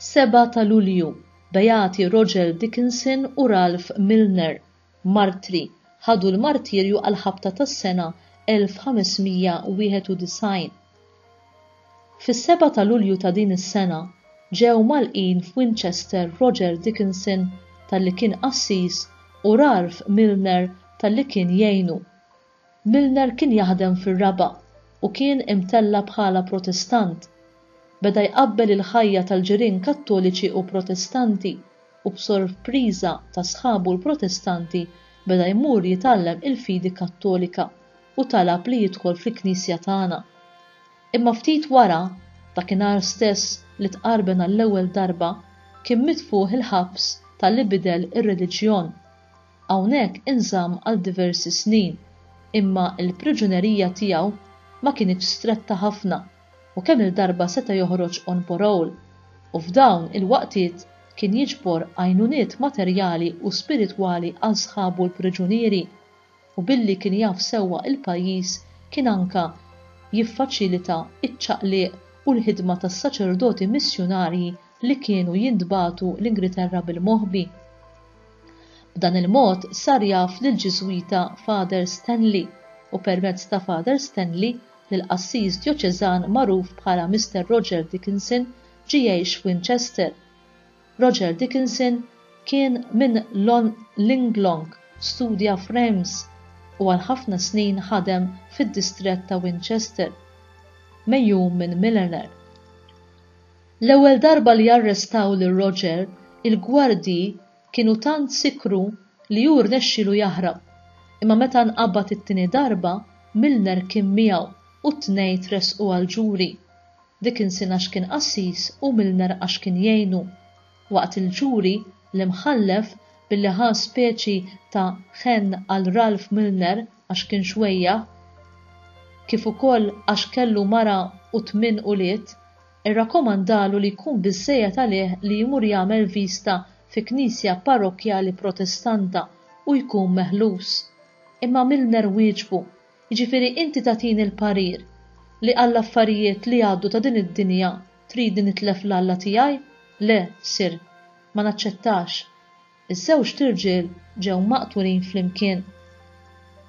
Seba ta' Lulju, Beati Roger Dickinson u Ralph Milner, martri ħadu l-martirju għall-ħabta tas-sena 1591. Fis-seba' ta' Lulju ta' din is-sena ġew mgħalqin f'Winchester Roger Dickinson talli kien qassis u Ralph Milner talli kien jgħinu. Milner kien jaħdem fir-raba' u kien imtella' bħala Protestant. Beda jqabbel il-ħajja tal-ġirien Kattoliċi u Protestanti u b'sorpriża ta' sħabu l-Protestanti beda jmur jitgħallem il-fidi Kattolika u talab li jidħol fil-Knisja tagħna. Imma ftit wara, dakinhar stess li tqarben għall-ewwel darba, kien mitfugħ il-ħabs talli bidel ir-reliġjon. Hawnhekk inżamm għal diversi snin, imma l-priġunerija tiegħu ma kinitx stretta ħafna u kemm-il darba seta' joħroġ on parole, u f'dawn il-waqtiet kien jiġbor għajnuniet materjali u spiritwali għal sħabu l-priġunieri, u billi kien jaf sewwa il-pajjiż kien anka jiffaċilita iċ-ċaqliq u l-ħidma tas-saċerdoti missjunarji li kienu jintbagħtu l-Ingriterra bil-moħbi. B'dan il-mod sar jaf lill-Ġiżwita Father Stanley u permezz ta' Father Stanley lill-qassis djoċeżan magħruf bħala Mister Roger Dickinson ġie jgħix f'Winchester. Roger Dickinson kien minn Linglong, studja f'Reims u għal ħafna snin ħadem fid-distrett ta' Winchester, megħjum minn Milener. L-ewwel darba li arrestaw lil Roger, il-gwardji kienu tant sikkru li hu rnexxielu jaħrab, imma meta nqabad it-tieni darba, Milner kien miegħu u t-tnejn tressqu għall-ġuri, Dickinson għax kien qassis u Milner għax kien jgħinu. Waqt il-ġuri, l-Imħallef, billi ħa speċi ta' ħenn għal Ralph Milner għax kien xwejjaħ, kif ukoll għax kellu mara u tmien ulied, Irrakkomandalu li jkun biżżejjed għalih li jmur jagħmel viżta fi knisja parrokkjali Protestanta u jkun meħlus. Imma Milner wieġbu, Jiġifieri inti tagħtini l-parir li għall-affarijiet li għaddu ta' din id-dinja tridni nitlef l-Alla tiegħi? Le, Sir. Ma naċċettax. Iż-żewġt irġiel ġew maqtulin flimkien.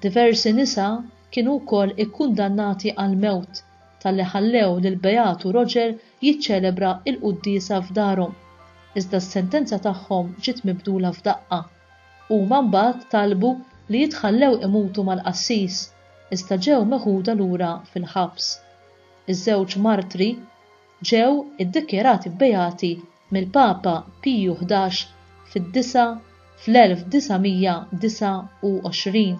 Diversi nisa kienu wkoll ikkundannati għall-mewt talli ħallew lill-Beatu Roger jiċċelebra l-quddiesa f'darhom, iżda s-sentenza tagħhom ġiet mibdula f'daqqa. Huma mbagħad talbu li jitħallew imutu mal-qassis, iżda ġew meħuda lura fil-ħabs. Iż-żewġ martri, ġew iddikjarati beati mill-Papa Piju Ħdax fid-Disa' fl-1929.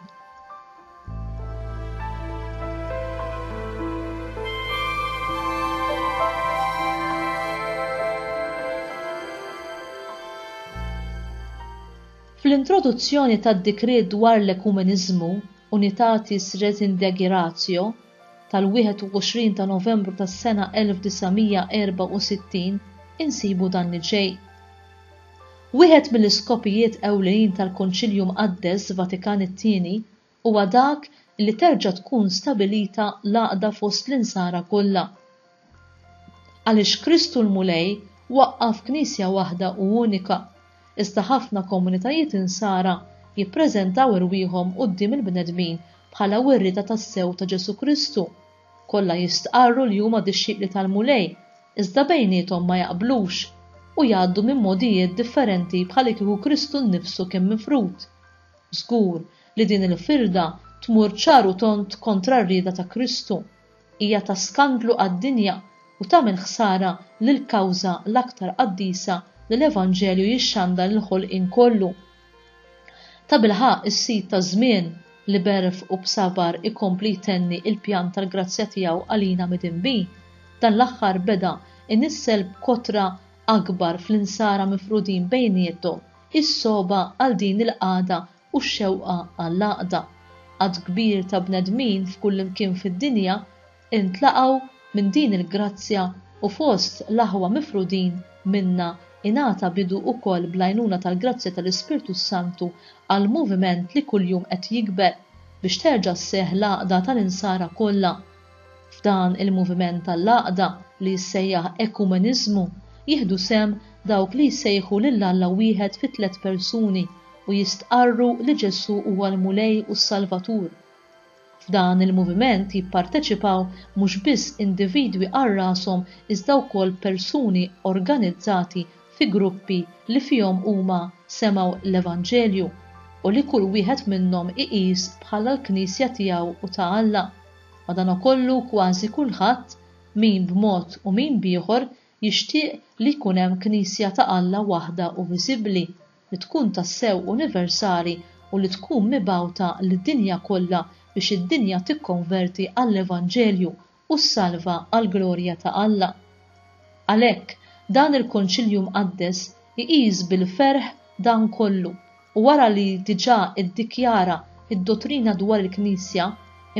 Fl-introduzzjoni tad-Dikriet dwar l-Ekumeniżmu, Unitatis Redintegratio, tal-21 ta' Novembru tas-sena 1964 insibu dan li ġej, Wieħed mill-iskopijiet ewlenin tal-Konċilju Mqaddes Vatikan it-Tieni huwa dak li terġa' tkun stabilita l-għaqda fost l-Insara kollha. Għaliex Kristu l-Mulej waqqaf Knisja waħda u unika, iżda ħafna komunitajiet Insara jippreżentaw irwieħhom quddiem il-bnedmin bħala wirri ta' tassew ta' Ġesù Kristu. Kollha jistqarru li huma dixxipli tal-Mulej, iżda bejniethom ma jaqblux, u jgħaddu minn mogħdijiet differenti bħalikieku Kristu nnifsu kien mifrud. Żgur li din il-firda tmur ċar u tond kontra r-rieda ta' Kristu. Hija ta' skandlu għad-dinja u tagħmel ħsara lill-kawża l-aktar qaddisa li l-Evanġelju jixxandar il-ħolqien kollu. Tabilħaqq is-Sid taż-żmien li b'għerf u b'sabar ikompli jtenni l-pjan tal-grazzja tiegħu għalina midinbin, dan l-aħħar beda inissel b'kotra akbar fl-insara mifrudin bejniethom is-sogħba għal din il-qagħda u x-xewqa għall-għaqda. Għadd kbir ta' bnedmin f'kullimkien fid-dinja intlaqgħu minn din il-grazzja u fost l-aħwa mifrudin minnha ingħata bidu ukoll bl-għajnuna tal-grazzja tal-Ispirtu s-Santu għal moviment li kuljum qed jikber biex terġa' sseħħ l-għaqda tal-Insara kollha F'dan il-moviment tal-għaqda li jissejjaħ ekumeniżmu jieħdu sehem dawk li jsejħu lil Alla wieħed fi tliet persuni u jistqarru li Ġesù huwa l-Mulej u s-Salvatur. F'dan il-moviment jipparteċipaw mhux biss individwi għal rashom iżda wkoll persuni organizzati fi gruppi li fihom huma semgħu l-Evanġelju u li kull wieħed minnhom iqis bħala l-Knisja tiegħu u ta' Alla. Madankollu kważi kulħadd, min b'mod u min b'ieħor, jixtieq li jkun hemm Knisja ta' Alla waħda u viżibbli, li tkun tassew universali u li tkun mibgħuta lid-dinja kollha biex id-dinja tikkonverti għall-Evanġelju u ssalva għall-glorja ta' Alla. Għalhekk, dan il-Konċilju Mqaddes iqis bil-ferħ dan kollu u wara li diġà iddikjara d-dottrina dwar il-Knisja,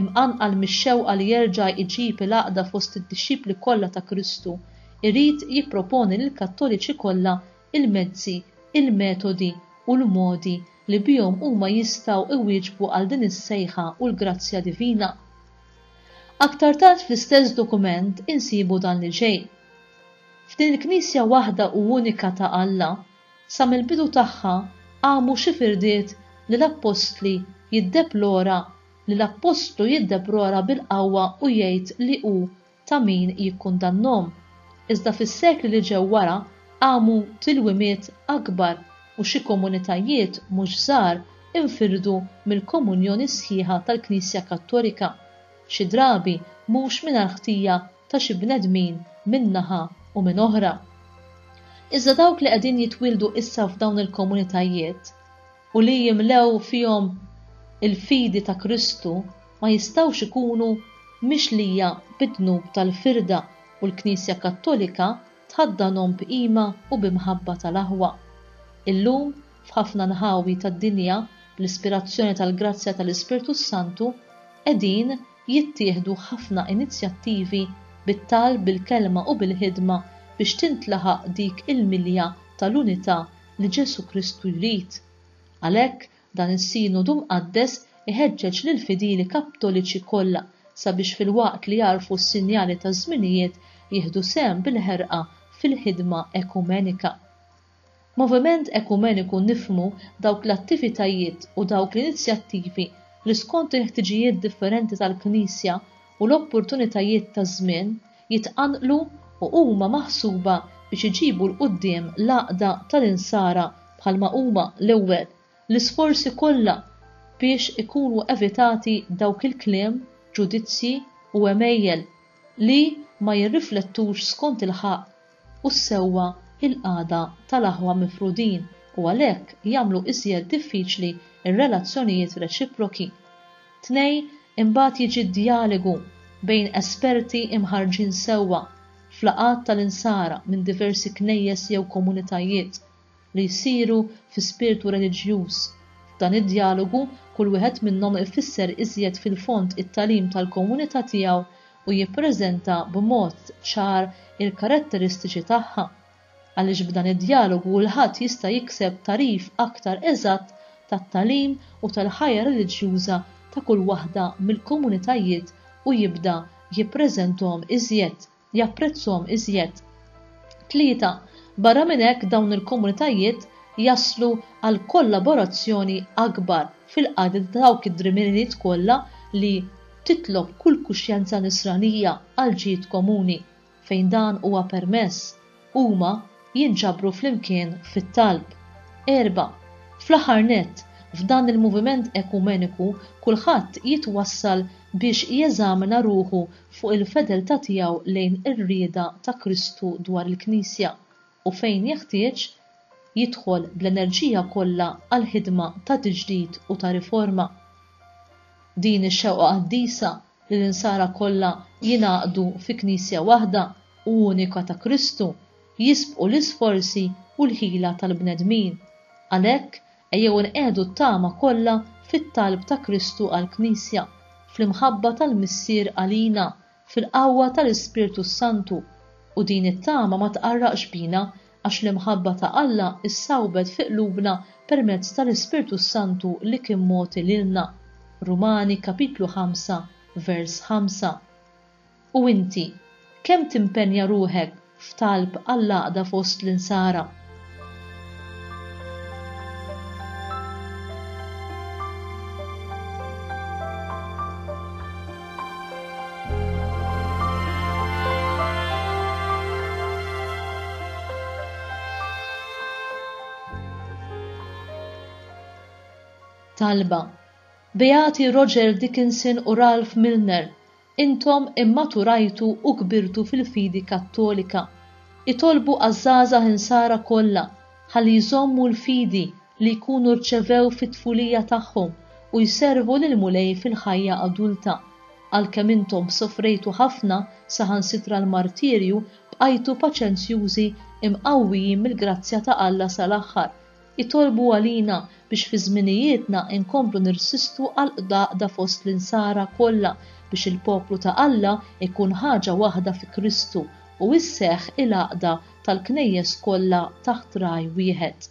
imqanqal mix-xewqa li jerġa' jġib il-għaqda fost id-dixxipli kollha ta' Kristu, irid jipproponi lill-Kattoliċi kollha l-mezzi, il-metodi u l-modi li bihom huma jistgħu iwieġbu għal din is-sejħa u l-grazzja divina. Aktar tard fl-istess dokument insibu dan li ġej, F'din il-Knisja waħda u unika ta' Alla, sa mill-bidu tagħha qamu xi firdiet li l-Appostli jiddeplora li l-Appostlu jiddeprora bil-qawwa u jgħid li hu ta' min jikkundannhom, iżda fis-sekli li ġew wara qamu tilwimiet akbar u xi komunitajiet mhux żgħar infirdu mill-komunjoni sħiħa tal-Knisja Kattolika, xi drabi mhux mingħajr ħtija ta' xi bnedmin minn naħa u minn oħra. Iżda dawk li qegħdin jitwieldu issa f'dawn il-komunitajiet, u li jimlew fihom il-fidi ta' Kristu ma jistgħux ikunu mixlija bid-dnub tal-firda u l-Knisja Kattolika tħaddanhom b'qima u bi mħabba tal-aħwa. Illum, f'ħafna nħawi tad-dinja, bl-ispirazzjoni tal-grazzja tal-Ispirtu s-Santu, qegħdin jittieħdu ħafna inizjattivi bit-talb, bil-kelma u bil-ħidma biex tintlaħaq dik il-milja tal-unità li Ġesù Kristu jrid. Għalhekk, dan is-Sinodu Mqaddes iħeġġeġ lill-fidili Kaptoliċi kollha sabiex filwaqt li jagħrfu s-sinjali taż-żminijiet jieħdu sehem bil-ħerqa fil-ħidma ekumenika. B'moviment ekumeniku nifhmu dawk l-attivitajiet u dawk l-inizjattivi li skont il-ħtiġijiet differenti tal-Knisja u l-opportunitajiet taż-żmien jitqanqlu u huma maħsuba biex iġibu 'l quddiem l-għaqda tal-Insara bħalma huma l-ewwel l-isforzi kollha biex ikunu evitati dawk il-kliem, ġudizzji u għemejjel li ma jirriflettux skont il-ħaqq u s-sewwa il-qagħda tal-aħwa mifrudin u għalhekk jagħmlu iżjed diffiċli r-relazzjonijiet reċiproki. Tnej, imbagħad jiġi d-djaligu bejn esperti imħarrġin sewwa f'laqgħat tal-insara minn diversi knejjes jew komunitajiet li jsiru fi spirtu reliġjuż. F'dan id-djalogu, kull wieħed minnhom ifisser iżjed fil-fond it-tagħlim tal-komunità tiegħu u jippreżenta b'mod ċar il-karatteristiċi tagħha, għaliex b'dan id-djalogu kulħadd jista' jikseb tagħrif aktar eżatt tat-tagħlim u tal-ħajja reliġjuża ta' kull waħda mill-komunitajiet u jibda jippreżenthom iżjed. japprezzhom iżjed. Tlieta, barra minn hekk dawn il-komunitajiet jaslu għal kollaborazzjoni akbar fil-qadi ta' dawk id-drimiriet kollha li titlob kull kuxjenza nisranija għal ġid komuni, fejn dan huwa permess, Huma jinġabru flimkien fit-talb. Erba', fl-aħħar nett, f'dan il-moviment ekumeniku kulħadd jitwassal biex jeżamina ruħu fuq il-fedeltà tiegħu lejn ir-rieda ta' Kristu dwar il-Knisja u fejn jeħtieġ, jidħol bl-enerġija kollha għall-ħidma ta' tiġdid u ta' riforma. Din ix-xewqa qaddisa li l-insara kollha jingħaqdu fi Knisja waħda u unika ta' Kristu, jisbqu l-isforzi u l-ħila tal-bnedmin. Għalhekk, ejjew inqiegħdu t-tama kollha fit-talb ta' Kristu għall-Knisja, fl-imħabba tal-Missier għalina, fil-qawwa tal-Ispirtu s-Santu, u din it-tama ma tqarraqx bina, Għax l-imħabba ta' Alla ssawbet fi qlubna permezz tal-Ispirtu s-Santu li kien mogħti lilna. Rumani kapitlu 5 vers 5. U inti, kemm timpenja ruħek f'talb għall-għaqda fost l-Insara? Talba Beati Roger Dickinson u Ralph Milner, intom immaturajtu u kbirtu fil-fidi Kattolika. Itolbu għaż-żgħażagħ insara kollha ħalli jżommu l-fidi li jkunu rċevew fit-tfulija tagħhom u jservu lill-Mulej fil-ħajja adulta. Għalkemm intom sofrejtu ħafna, saħansitra l-martirju, bqajtu paċenzjużi, imqawwijin mill-grazzja ta' Alla sal-aħħar. Itolbu għalina biex fi żminijietna inkomplu nirsistu għall-qdaqda fost l-Insara kollha biex il-poplu ta' Alla jkun ħaġa waħda fi Kristu u sseħħ il-għaqda tal-Knejjes kollha taħt Ragħaj wieħed.